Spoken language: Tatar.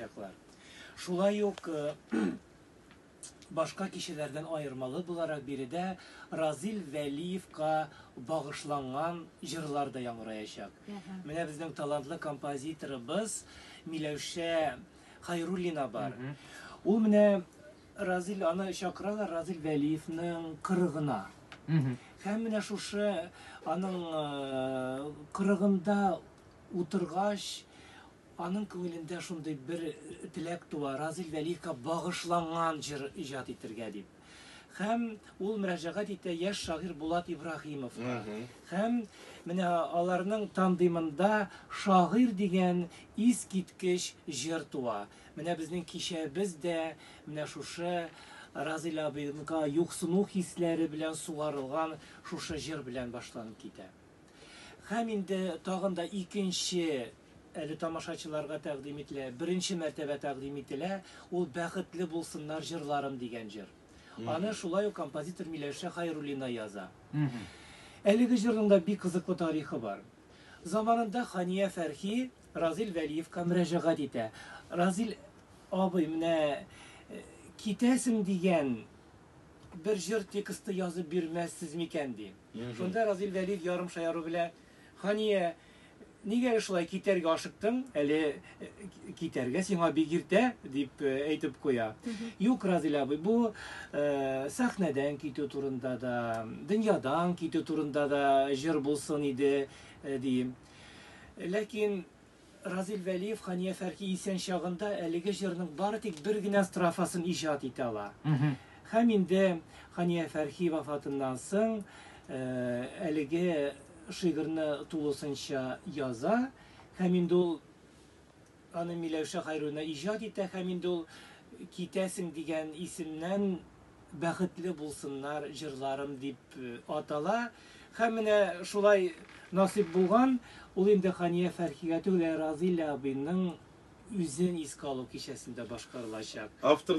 чаклар. Шулай ук башка кешеләрдән аермалы буларак биредә Разил Вәлиевка багышланган җырлар да яңгыраячак. Менә безнең талантлы композиторыбыз Миләүшә Хайруллина бар. Ул менә Разил аны чакыралар Разил Вәлиевның кырыгына. Һәм менә шушы аның кырыгында утыргач Аның күңелендә шундый бер теләк туа, Разил Вәлиевка багышланган җыр иҗат итергә дип. Һәм ул мөрәҗәгать итә яшь шагыйрь Булат Ибраһимовка. Һәм менә аларның тандемында Шагыйрь дигән искиткеч җыр туа. Менә безнең кичәбез дә менә шушы Разил абыйга юксыну хисләре белән сугарылган шушы җыр белән башланып китә. Һәм инде тагын да икенче әле тамашачыларга тәкъдим ителә, беренче мәртәбә тәкъдим ителә, ул Бәхетле булсыннар җырларым дигән җыр. Аны шулай ук композитор Миләүшә Хәйруллина яза. Әлеге җырның да бик кызыклы тарихы бар. Заманында Хания Фәрхи Разил Вәлиевка мөрәҗәгать итә. Разил абый, менә китәсең дигән Бер җыр тексты язып бирмәссез микән? ди. Шунда Разил Вәлиев ярым шаяру белән, Хания, нигә әле шулай китәргә ашыктың? Әле китәргә сиңа бик иртә, дип әйтеп куя. Юк, Разил абый, бу сәхнәдән китү турында да, дөньядан китү турында да җыр булсын иде, дим. Ләкин Разил Вәлиев Хания Фәрхи исән чагында әлеге җырның бары тик бер генә строфасын иҗат итә ала. Һәм инде Хания Фәрхи вафатыннан соң әлеге шигырьне тулысынча яза һәм инде ул аны Миләүшә Хәйруллина иҗат итә һәм инде ул Китәсең дигән исемнән Бәхетле булсыннар җырларым дип атала. Һәм менә шулай насыйп булган, ул инде Хания Фәрхигә түгел, ә Разыйлә абыйның үзен искә алу кичәсендә башкарылачак. Авторлар.